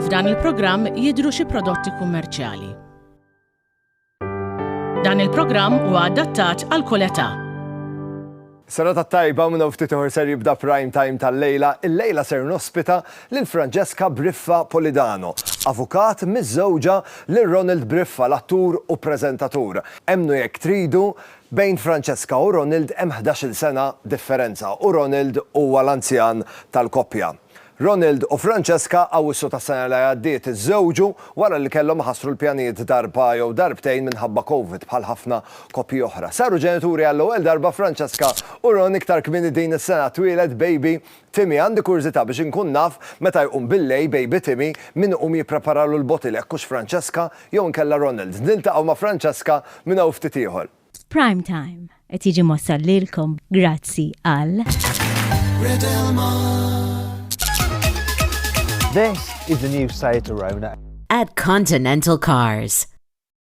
F'dan il-programm jidhru xi prodotti kummerċjali. Dan il-programm huwa adattat għal kull età. Serata tajba minn ftit ieħor ser jibda prime time tal-lejla, il-lejla ser nospita lil Francesca Briffa Polidano, avukat miżżewġa lil Ronald Briffa, l-attur u preżentatur. Emmnu jekk tridu, Bejn Francesca u Ronald hemm ħdax-il sena differenza u Ronald huwa l-anzjan tal-koppja. Ronald u Francesca Awwissu tas-sena li għaddiet iżżewġu wara li kellhom iħassru l-pjanijiet darba jew darbtejn minħabba Covid bħal ħafna koppji oħra. Saru ġenituri għall-ewwel darba Francesca u Ron iktar kmieni din is-sena twieled baby Timmy, Għandi kurżità biex inkun naf meta jqum billejl baby Timmy min iqum jippreparalu l-bottle hekk hux Francesca jew inkella Ronald. Niltaqgħu ma' Francesca minn hawn ftit ieħor. Prime Time qed jiġi mwassal lilkom grazzi għal. This is the new site to Rona. At Continental Cars.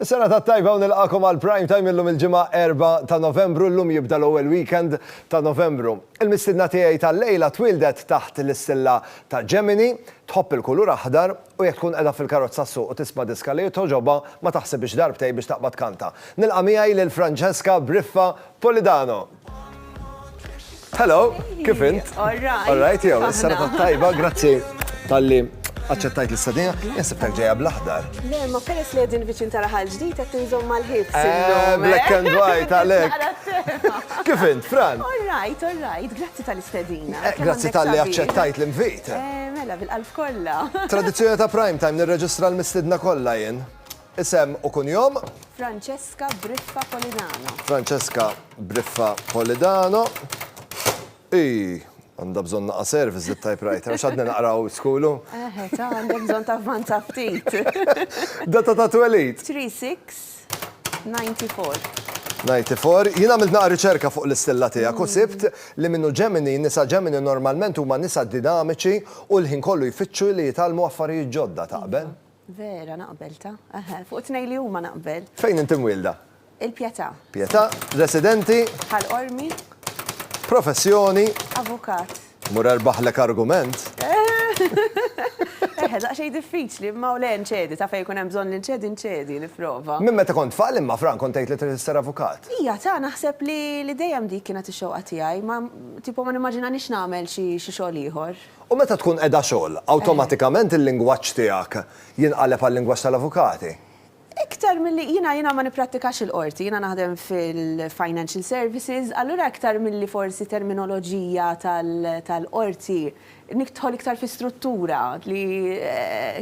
Is-sena tat-tajba u nilqagħkom għal Prime Time illum il-Ġimgħa 4 ta' Novembru, illum jibda l-ewwel weekend ta' Novembru. Il-mistiedna tiegħi tal-lejla twieldet taħt l-istilla ta' Gemini, tħobb il-kulur aħdar u jekk tkun qiegħda fil-karozza ssuq u tisma' diska li togħġobha ma taħsibhiex darbtejn biex taqbad tkanta. Nilqa' miegħi lil Francesca Briffa Polidano. Hello, kif int? All right. All right, jew, s-sena tajba, grazzi tal-li aċċettajt l-istadina, jasib tal ġeja bl-aħdar. Le, ma peress li għedin viċin tara ħal ġdijt għet nżom mal-ħib. Eh, eh? Black and white, għalek. Kif int, Fran? All right, all right, grazzi tal-istadina. Eh, grazzi tal-li aċċettajt l-invit. Mela, bil-qalb kolla. Tradizjoni ta' prime time nirreġistra l-mistidna kolla jen. Isem u kunjom? Francesca Briffa Polidano. Francesca Briffa Polidano. Ii, għandha bżonn naqa' service dit-typewriter għax għadni naqra old school u. Eħe, ta' għandek bżonn tavvanza ftit. Data ta' twelid? 3 6 94. 94. Jien għamilt naqa' riċerka fuq l-istilla tiegħek u sibt li minnu Ġemini, nisa Ġemini normalment huma nisa dinamiċi u l-ħin kollu jfittxu li jitgħallmu affarijiet ġodda, taqbel? Vera naqbel ta. Eħe, fuq it-tnejn li huma naqbel. Fejn inti mwielda? Il-Pjetà. Pjetà, residenti. Ħal Qormi. Professjoni. Avukat. Mur erbaħlek argument. Eħe, daqsxejn diffiċli, imma u le nċedi, ta' fejn ikun hemm bżonn li nċedi nċedi, nipprova. Minn meta kont tfal imma Fran kont tgħid li trid issir avukat? Ija ta, naħseb li dejjem dik kienet ix-xewqa tiegħi, ma tipo ma nimmaġinanix nagħmel xi xogħol ieħor. U meta tkun qiegħda xogħol, awtomatikament il-lingwaġġ tiegħek jinqaleb għal-lingwaġġ tal-avukati? Iktar milli, jiena, jiena ma nipprattikax il-qorti, jiena naħdem fil-financial services, allura iktar milli forsi terminoloġija tal-qorti, nidħol iktar fi struttura li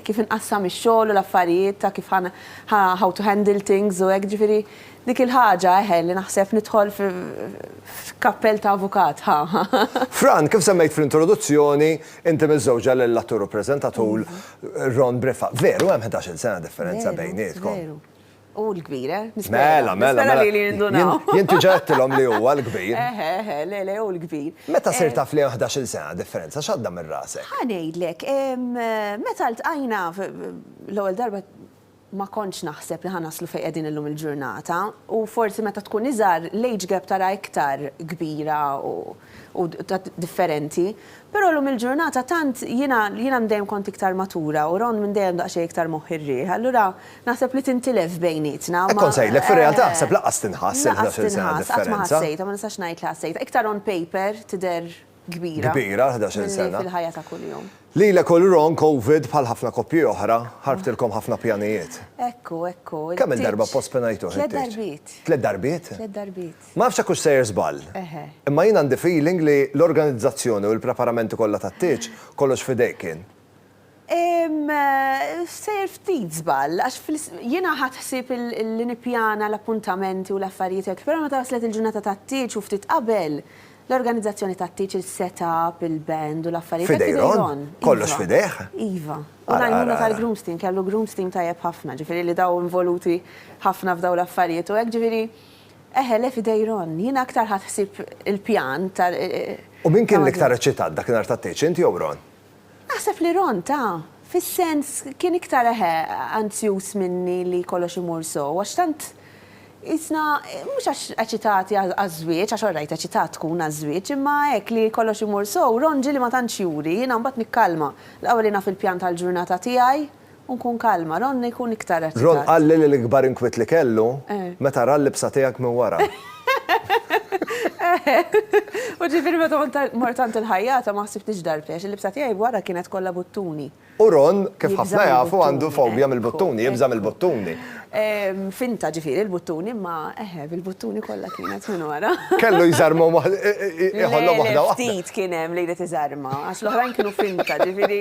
kif inqassam ix-xogħol u l-affarijiet ta' kif ħa, how to handle things u hekk, ġifieri Dik il-ħaġa, eħe, li naħseb nidħol f'kappell ta' avukat, ħa! Fran, kif semmejt fl-introduzzjoni, inti miżżewġa lill-attur u preżentatur Ron Briffa. Veru, hemm ħdax-il sena differenza bejnietkom. Veru, veru. Hu l-kbir, eh? Mela, mela, mela. Nispera li li jindunaw. Jien diġà għedtilhom li huwa l-kbir. Eħe, eħe, le, le, hu l-kbir. Meta sirt taf li hemm ħdax-il sena differenza, x'għadda minn rasek? Ħa ngħidlek, meta ltqajna l-ewwel darba, ma kontx naħseb li ħa naslu fejn qegħdin illum il-ġurnata u forsi meta tkun iżgħar l-age gap taraha iktar kbira u u differenti. Però llum il-ġurnata tant jiena jiena minn dejjem kont iktar matura u Ron minn dejjem daqsxejn iktar moħħ ir-riħ, allura naħseb li tintilef bejnietna. Hekk kont sejlek, fir-realtà aħseb lanqas tinħass il-ħdax-il sena differenza. Lanqas tinħass, qatt ma ħassejtha, ma nistax ngħid li ħassejtha. Iktar on paper tidher kbira Kbira, ħdax-il minni sena. fil-ħajja ta' kuljum. Lilek u l-Ron Covid bħal ħafna koppji oħra, ħarbtilkom ħafna pjanijiet. Ekku, ekku, il-tieġ. Kemm-il darba ppospenajtuh it-tieġ? Tliet darbiet. Tliet darbiet? Tliet darbiet. Ma nafx jekk hux sejr żball. Eħe. Imma jien għandi feeling li l-organizzazzjoni u l-preparamenti kollha tat-tieġ kollox f'idejk kien. Sejjer ftit żball, għax jiena ħadt ħsieb li nippjana l-appuntamenti u l-affarijiet hekk, però meta waslet il-ġurnata tat-tieġ u ftit qabel, l-organizzazzjoni tat-tieġ, is-set-up, il-band u l-affarijiet hekk f'idejn Ron. F'idejn Ron, kollox f'idejh? Iva. U l-għajnuna tal-grooms team, kellu grooms team tajjeb ħafna, ġifieri li daw involuti ħafna f'dawn l-affarijiet u hekk, ġifieri, eħe le f'idejn Ron. Jiena aktar ħadt ħsieb il-pjan ta' U min kien l-iktar eċċitat dak in-nhar tat-tieġ, int jew Ron? Naħseb li Ron ta, fis-sens, kien iktar, eħe, anzjuż minni li kollox imur sew, għax tant qisna, mhux għax eċitati għaż-żwieġ, għax orrajt eċitat tkun għaż-żwieġ, imma hekk li kollox imur sew, Ron ġieli ma tantx juri, jiena mbagħad nikkalma, l-qawwa li naf il-pjan tal-ġurnata tiegħi, U nkun kalma. Ron ikun iktar eċitat. Ron qalli li l-ikbar inkwiet li kellu meta ra l-libsa tiegħek minn wara. U ġifieri meta kont mort għand il-ħajjata ma ħsibtnix darbtejn għax il-libsa tiegħi wara kienet kollha buttuni. U Ron, kif ħafna jafu, għandu fobja mill-buttuni, jibża' mill-buttuni. Finta ġifieri il-buttuni imma eħe bil-buttuni kollha kienet minn wara. Kellu jżarmhom waħda, iħollhom waħda waħda. Le, le, ftit kien hemm li jrid iżarma għax l-oħrajn kienu finta ġifieri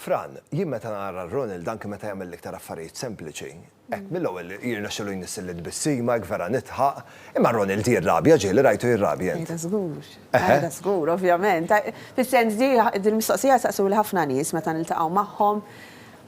Fran, jien meta nara l Ronald anki meta jagħmel l-iktar affarijiet sempliċi, hekk mill-ewwel jirnexxilu jnissil it-tbissima, hekk vera nidħaq, imma Ronald jirrabja, Ġieli rajtu jirrabja int? Qiegħda żgur. Qiegħda żgur, ovvjament. Fis-sens di, din il-mistoqsija jsaqsuli ħafna nies meta niltaqgħu magħhom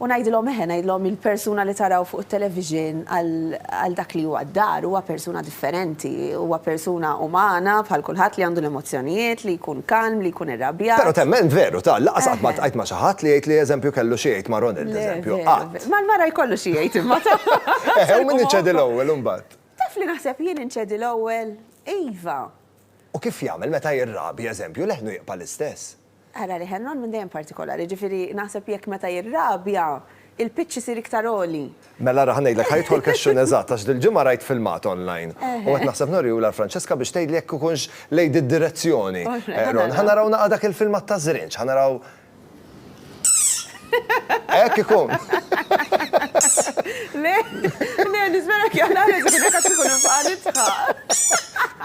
u ngħidilhom eħe, ngħidilhom il-persuna li taraw fuq it-television għal dak li huwa d-dar huwa persuna differenti, huwa persuna umana bħal kulħadd li għandu l-emozzjonijiet, li jkun kalm, li jkun irrabjat. Però temmen veru, ta' lanqas qatt ma ltqajt ma' xi ħadd li jgħid li eżempju kellu xi jgħid ma' Ronald eżempju, qatt. Mal-mara jkollu xi jgħid imma ta'. Eħe, u min iċedi l-ewwel imbagħad? Taf li naħseb jien inċedi l-ewwel? Iva. U kif jagħmel meta jirrabi eżempju leħnu jibqa' l-istess? Ara li Henron minn dejjem partikolari, jiġifieri naħseb jekk meta jirrabja, il-pitch isir iktar għoli. Mela ara ħa ngħidlek, ħa jidħol question eżatt, għax dil-ġimgħa rajt filmat online u qed naħseb norihulha l-Francesca biex tgħidli jekk ikunx lejn did-direzzjoni. Ħa naraw naqra dak il-filmat taż-Żrinġ, ħa naraw. Hekk ikun. Le, le, nispera jekk jaqla' li tkun hekk għax inkun infaqa' nidħaq.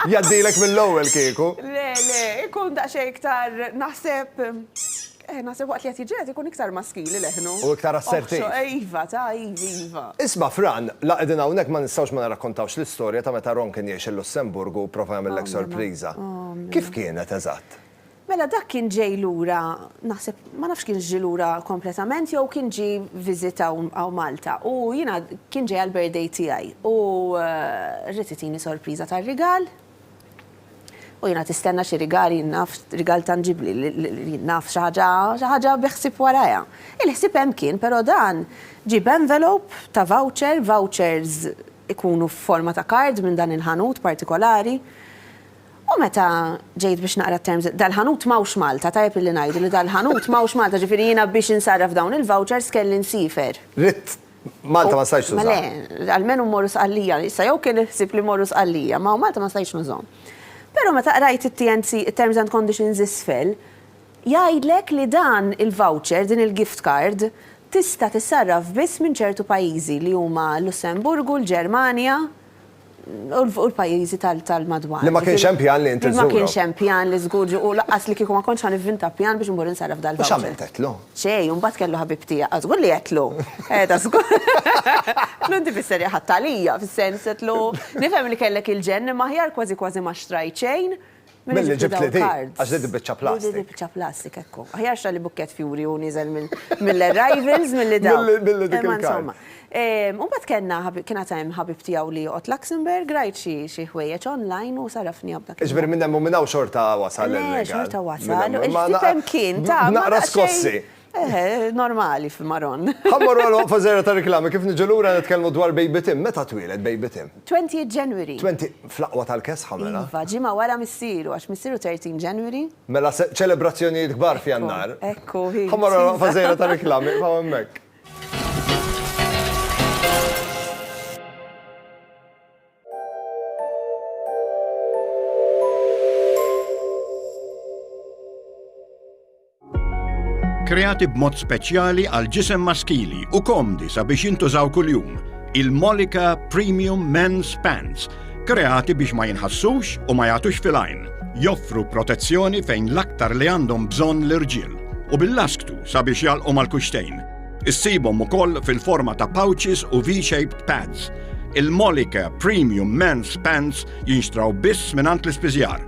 Jgħaddilek mill-ewwel kieku. Le, le, ikun daqsxejn iktar naħseb, eh, naħseb waqt li qed jiġġieled ikun iktar maskili leħnu. U iktar assertiv. Iva, ta', iva, iva. Isma' Fran, la qegħdin hawnhekk ma nistgħux ma nirrakkontawx l-istorja ta' meta Ron kien jgħix il-Lussemburgu u pprova jagħmillek sorpriża. Kif kienet eżatt? Mela dak kien ġej lura, naħseb, ma nafx kienx ġie lura kompletament jew kien ġie visit hawn hawn Malta u jiena kien ġej għall-birthday tiegħi u ried itini sorpriża ta' rigal u jiena tistenna xi rigal jien naf rigal tanġibbli li jien naf xi ħaġa xi ħaġa bi ħsieb warajha. Il-ħsieb hemm kien però dan ġie b'envelope ta' voucher, vouchers ikunu f'forma ta' card minn dan il-ħanut partikolari. U meta ġejt biex naqra t-terms, dal-ħanut m'hawnx Malta, tajjeb illi ngħidu li dal-ħanut m'hawnx Malta, ġifieri jiena biex insarraf dawn il-vouchers kelli nsiefer. Ridt Malta ma stajtx tużahom. Le, almenu mmorru Sqallija. Issa jew kien il-ħsieb li mmorru Sqallija, ma hawn Malta ma stajtx nużahom. Però meta qrajt it-TNC, it-terms and conditions isfel, jgħidlek li dan il-voucher, din il-gift card, tista' tissarraf biss minn ċertu pajjiżi li huma l-Lussemburgu, l-Ġermanja, u l-pajjiżi tal-madwar. Li ma kienx hemm pjan li int iżżurhom. Li ma kienx hemm pjan li żgur ġie u lanqas li kieku ma kontx ħa nivvinta pjan biex immur insarraf dal-voucher. U x'għamilt għedtlu? Xejn, u mbagħad kellu ħabib tiegħek. Aw żgur li għedtlu! Qiegħda żgur. Għedtlu inti fis-serje ħadt għalija, fis-sens għedtlu nifhem li kellek il-ġenn imma aħjar kważi kważi ma xtrajt xejn. Milli ġibt li dik, għax li dik biċċa plastik. Dik biċċa plastik ekku. Aħjar xalli bukkett fjuri u niżel mill-arrivals milli dawn. Milli dik il-karta. U bat kena, kena tajem ħabib tijaw li joqot Luxembourg, rajt xie ħwejjeċ online u sarafni għabda. Iġbir minnem u minnaw xorta wasal. Xorta wasal. Ma naqra skossi. Eħe, normali fil-Maron. Ħammor għal waqfa zera ta' reklami kif niġu lura nitkellmu dwar Baby Tim. Meta twieled Baby Tim? 20 January. 20 fl-aqwa tal-kesħa mela. Iva, ġimgħa wara missieru għax missieru 13 January. Mela ċelebrazzjonijiet kbar f'Jannar. Ekku, hi. Ħammor għal waqfa zera ta' reklami, fa' hemmhekk. Kreati b'mod speċjali għal ġisem maskili u komdi sabiex jintużaw kuljum, il-Molika Premium Men's Pants, kreati biex ma jinħassux u ma jagħtux fil-għajn, joffru protezzjoni fejn l-aktar li għandhom bżonn l-irġiel u bil-lasktu sabiex jalqu mal-kuxtejn. Issibhom ukoll fil-forma ta' pouches u V-shaped pads. Il-Molika Premium Men's Pants jinxtraw biss mingħand l-ispiżjar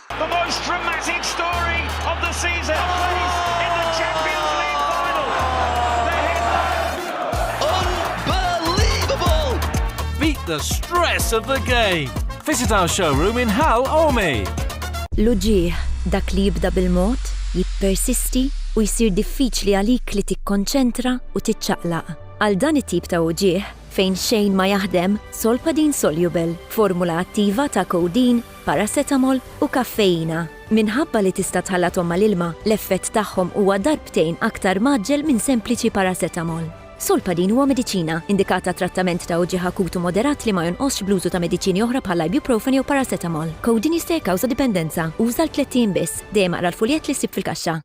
The most dramatic story of the season plays in the Champions League final. The headline. Unbelievable! Beat the stress of the game. Visit our showroom in Hal Omi. L-uġigħ, dak li jibda bil-mod, jippersisti u jsir diffiċli għalik li tikkonċentra u tiċċaqlaq. Għal dan it-tip ta' uġigħ, fejn xejn ma jaħdem, Solpadeine Soluble, formula attiva ta' codeine, paracetamol u kaffeina. Minħabba li tista' tħallathom mal-ilma, l-effett tagħhom huwa darbtejn aktar mgħaġġel minn sempliċi paracetamol. Solpadeine huwa mediċina, indikat għat-trattament ta' uġigħ akut u moderat li ma jonqosx bl-użu ta' mediċini oħra bħall-ibuprofen jew paracetamol. Codeine jista' jikkawża dipendenza. Uża għal tlett ijiem biss. Dejjem aqra l-fuljett li ssib fil-kaxxa.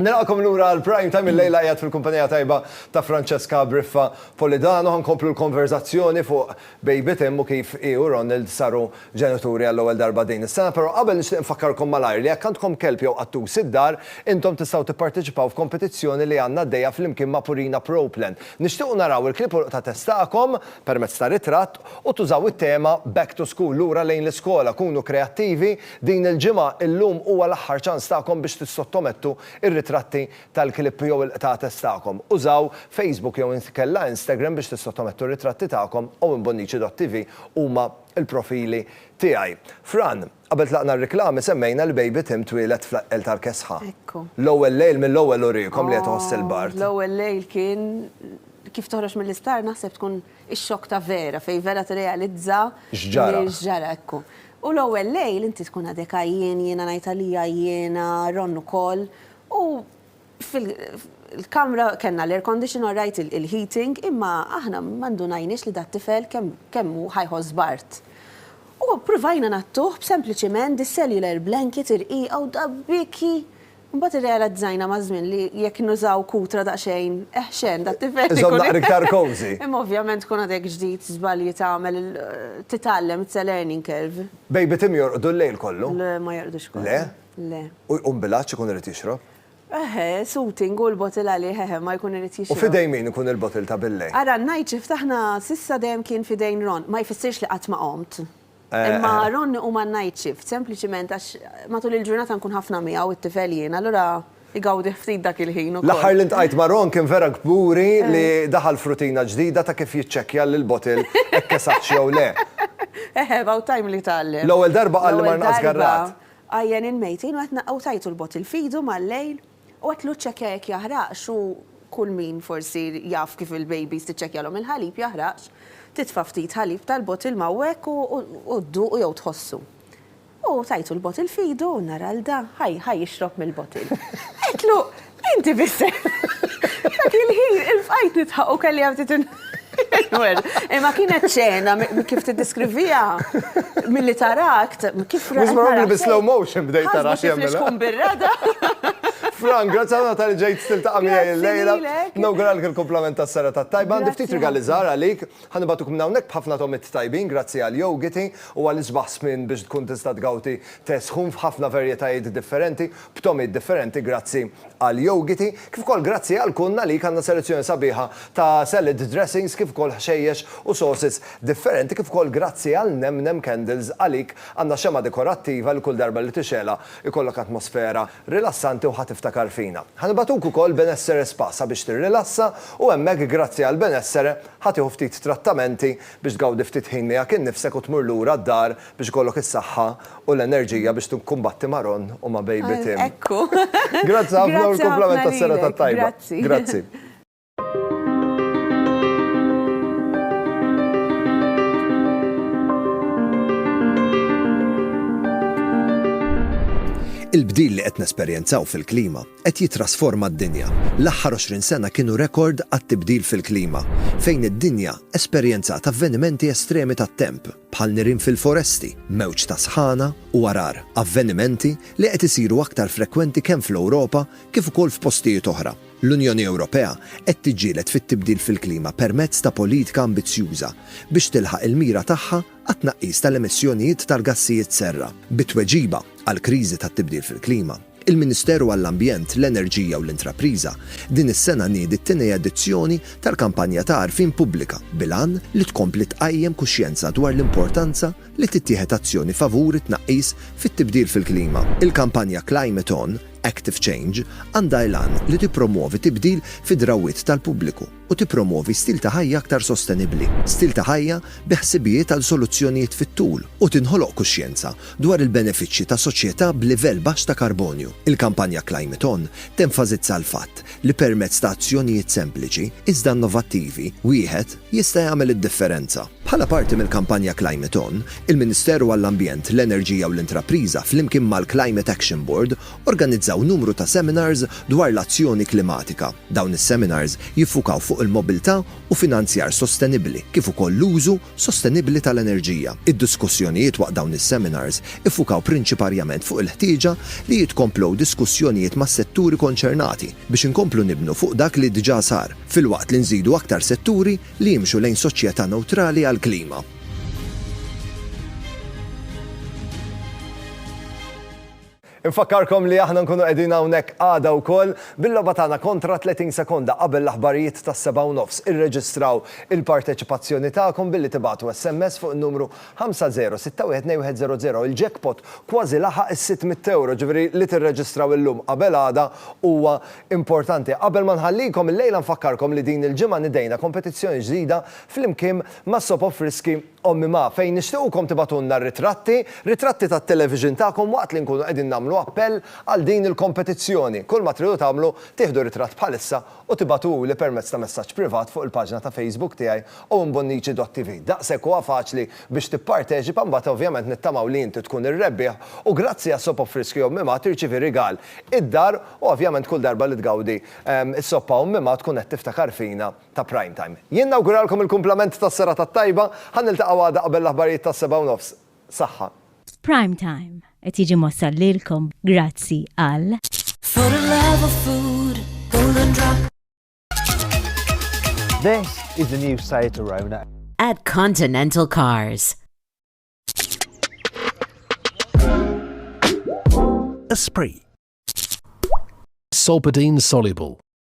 Nilqakom lura għal prime time il-lejla jgħat fil-kumpanija tajba ta' Francesca Briffa Polidano ħankomplu l-konverzazzjoni fuq Baby Tim u kif i u Ronald saru ġenituri għall-ewwel darba din is-sena, però qabel nixtieq nfakkarkom malajr li jekk għandkom kelb jew qattus id-dar, intom tistgħu tipparteċipaw f'kompetizzjoni li għandna għaddejja flimkien ma' Purina Pro Plan. Nixtiequ naraw il-kliepuq ta' test tagħkom permezz ta' ritratt u tużaw it-tema Back to School, Lura lejn l-Iskola, Kunu Kreattivi, din il-ġimgħa, illum huwa l-aħħar ċans tagħkom biex tissottomettu r-ritratti tal-klipp jew il-qtates tagħkom. Użaw Facebook jew inkella Instagram biex tissottomettu r-ritratti tagħkom, owenbonnici.tv huma l-profili tiegħi. Fran, qabel tlaqna r-riklami semmejna li baby Tim twieled fl-Aqqel tal-Kesħa. Ekku. L-ewwel lejl mill-ewwel uriekom li qed iħoss il-bard. L-ewwel lejl kien, kif toħroġ mill-isptar naħseb tkun Ix-xokk ta' vera, fejn vera tirrealizza li x'ġara, ekku. U l-ewwel lejl inti tkun għadek għajjien, jiena ngħid għalija għajjiena, Ron ukoll, u fil-kamra kellna l-air condition all right, il-heating, imma aħna ma ndunajniex li dat-tifel kemm hu ħa jħoss b'art. U ppruvajna ngħattuh b'sempliċiment dis-cellular blanket irqiqa u da biki Imbagħad irrealizzajna maż-żmien li jekk nużaw kutra daqsxejn eħxen, dat-tifel ikun. Iżommna iktar cozy. Imma ovvjament tkun għadek ġdid, żbalji tagħmel il, titgħallem, it's a learning curve. Baby Tim jorqdu l-lejl kollu? Le, ma jorqdux kollu. Le? Le. U jqum bil-għatx ikun irid jixrob? Eħe, suiting u l-bottle għalih, eħe, ma jkun irid jixrob. U f'idejn min ikun il-bottle ta' bil-lejl? Ara, n-night shift aħna s'issa dejjem kien f'idejn Ron. Ma jfissirx li qatt ma qomt. Imma Ron huma n-night shift, sempliċiment għax matul il-ġurnata nkun ħafna miegħu it-tifel jien, allura igawdih ftit dak il-ħin ukoll. L-aħħar li ntqajt ma' Ron kien vera kburi li daħal f'rutina ġdida ta' kif jiċċekkja li l-bottle hekk esattx jew le. Eħe, about time li tgħallem. L-ewwel darba qal li mar nqas garrat. L-ewwel darba, għajjenin mejtin u qed u tajtu l-bottle f'idu mal-lejl. U qed lu ċċekkja jekk jaħraqx u kull min forsi jaf kif il-babies tiċċekkjalhom il-ħalib jaħraqx, titfa' ftit ħalib tal-bottle m'hawnhekk u dduqu jew tħossu. U tajtu l-bottle f'idu u nara 'l da, ħa ħa jixrob mill-bottle. Għedtlu, Inti biss qed. Dak il-ħin il-bqajt nidħaq u kelli hemm ftit. Imma kienet ċena, kif t-diskrivija, mill-li tarakt, kif rajt. Mux marru bil-slow motion bdejt tarax jemmela. Kif tkun birrada. Frank, grazzi għana tal-ġejt stil ta' għamija il-lejla. Nawguralk il-komplement ta' sara ta' tajba. Għandi ftit rigali zara għalik. Għanibatuk minnawnek bħafna tomit tajbin, grazzi għal-jogiti u għal-isbaħ smin biex tkun tista' tgawti tesħun f'ħafna verjetajiet differenti. b'togħmiet differenti grazzi għal jowgiti, kif ukoll grazzi għal Kun Nalik għandna selezzjoni sabiħa ta' salad dressings kif ukoll ħxejjex u sauces differenti kif ukoll grazzi għal Nem Nem Candles għalik għandna xemgħa dekorattiva li kull darba li tixegħlha jkollok atmosfera rilassanti u ħa tiftakar fina. Ħa nibagħtuk ukoll Benessere Spa sabiex tirrilassa u hemmhekk grazzi għal Benessere ħa tieħu ftit trattamenti biex tgawdi ftit ħin miegħek innifsek u tmur lura d-dar Biex ikollok is-saħħa u l-enerġija biex tikkumbatti ma' Ron u ma' Baby Tim. Ekku. Grazzi ħafna u l-kumplament tas-serata t-tajba. Grazzi. Grazzi. Il-bdil li qed nesperjenzaw fil-klima qed jittrasforma d-dinja. L-aħħar 20 sena kienu rekord għat-tibdil fil-klima, fejn id-dinja esperjenzat avvenimenti estremi tat-temp. bħal nirien fil-foresti, mewġ ta' sħana u għargħar, avvenimenti li qed isiru aktar frekwenti kemm fl-Ewropa kif ukoll f'postijiet oħra. L-Unjoni Ewropea qed tiġġieled fit-tibdil fil-klima permezz ta' politika ambizzjuża biex tilħaq il-mira tagħha għat-tnaqqis tal-emissjonijiet tal-gassijiet serra bi tweġiba għall-kriżi tat-tibdil fil-klima. Il-Ministeru għall-Ambjent, l-Enerġija u l-Intrapriża din is-sena niedi t-tieni edizzjoni tal-kampanja ta' għarfien pubblika bil-għan li tkompli tqajjem kuxjenza dwar l-importanza li tittieħed azzjoni favur it-tnaqqis fit-tibdil fil-klima. Il-kampanja Climate On, Active Change għandha l-għan li tippromwovi tibdil fid-drawwiet tal-pubbliku, u tippromwovi stil ta' ħajja aktar sostenibbli, stil ta' ħajja bi ħsibijiet għal soluzzjonijiet fit-tul, u tinħoloq kuxjenza dwar il-benefiċċji ta' soċjetà b'livell baxx ta' karbonju. Il-kampanja Climate On tenfasizza l-fatt li permezz ta' azzjonijiet sempliċi, iżda innovattivi, wieħed jista' jagħmel id-differenza. Bħala parti mill-kampanja Climate On, il-Ministeru għall-Ambjent, l-Enerġija u l-Intrapriża flimkien mal-Climate Action Board Organizzaw numru ta' seminars dwar l-azzjoni klimatika. Dawn is-seminars jiffukaw fuq il-mobilità u finanzjar sostenibbli kif ukoll l-użu sostenibbli tal-enerġija. Id-diskussjonijiet waqt dawn is-seminars iffukaw prinċiparjament fuq il-ħtieġa li jitkomplow diskussjonijiet mas-setturi konċernati biex inkomplu nibnu fuq dak li diġà sar, filwaqt li nżidu aktar setturi li jimxu lejn soċjetà newtrali għall-klima. Infakkarkom li aħna nkunu qegħdin hawnhekk għada wkoll bil-logħba tagħna kontra 30 sekonda qabel l-aħbarijiet tas-sebgħa u nofs. Irreġistraw il-parteċipazzjoni tagħkom billi tibagħtu SMS fuq in-numru 50612100. Il-jackpot kważi laħaq is-600€, ġifieri li tirreġistraw illum qabel għada huwa importanti. Qabel ma nħallikom illejla nfakkarkom li din il-ġimgħa nidejna kompetizzjoni ġdida flimkien ma' Soap of Frisky, Ommi Ma, fejn nixtiequkom tibagħtulna r-ritratti, ritratti tat-television tagħkom waqt li nkunu qegħdin nagħmlu appell għal din il-kompetizzjoni. Kull ma tridu tagħmlu, tieħdu ritratt bħalissa u tibagħtuhuli permezz ta' messaġġ privat fuq il-paġna ta' Facebook tiegħi owenbonnici.tv. Daqshekk huwa faċli biex tipparteċipa mbagħad ovvjament nittamaw li inti tkun ir-rebbieħ u grazzi għas-soppa b'friski Ommi Ma tirċievi rigal id-dar u ovvjament kull darba li tgawdi is-soppa Ommi Ma tkun qed tiftakar fina ta' Prime Time. Jien nawguralkom il-kumplament tas-serata t-tajba, ħa niltaqgħu għada qabel l-aħbarijiet tas-sebgħa u nofs. Saħħa. Prime Time qed jiġi mwassal lilkom grazzi għal. For the love of food, Golden Drop. This is the new Seat Arona. At Continental Cars. Esprit. Solpadeine soluble.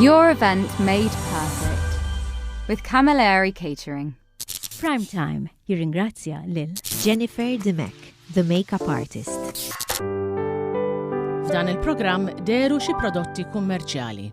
Your event made perfect with Camilleri Catering. Prime Time jirringrazzja lil Jennifer Dimek, the makeup artist. F'dan il-programm deru xi prodotti kummerċjali.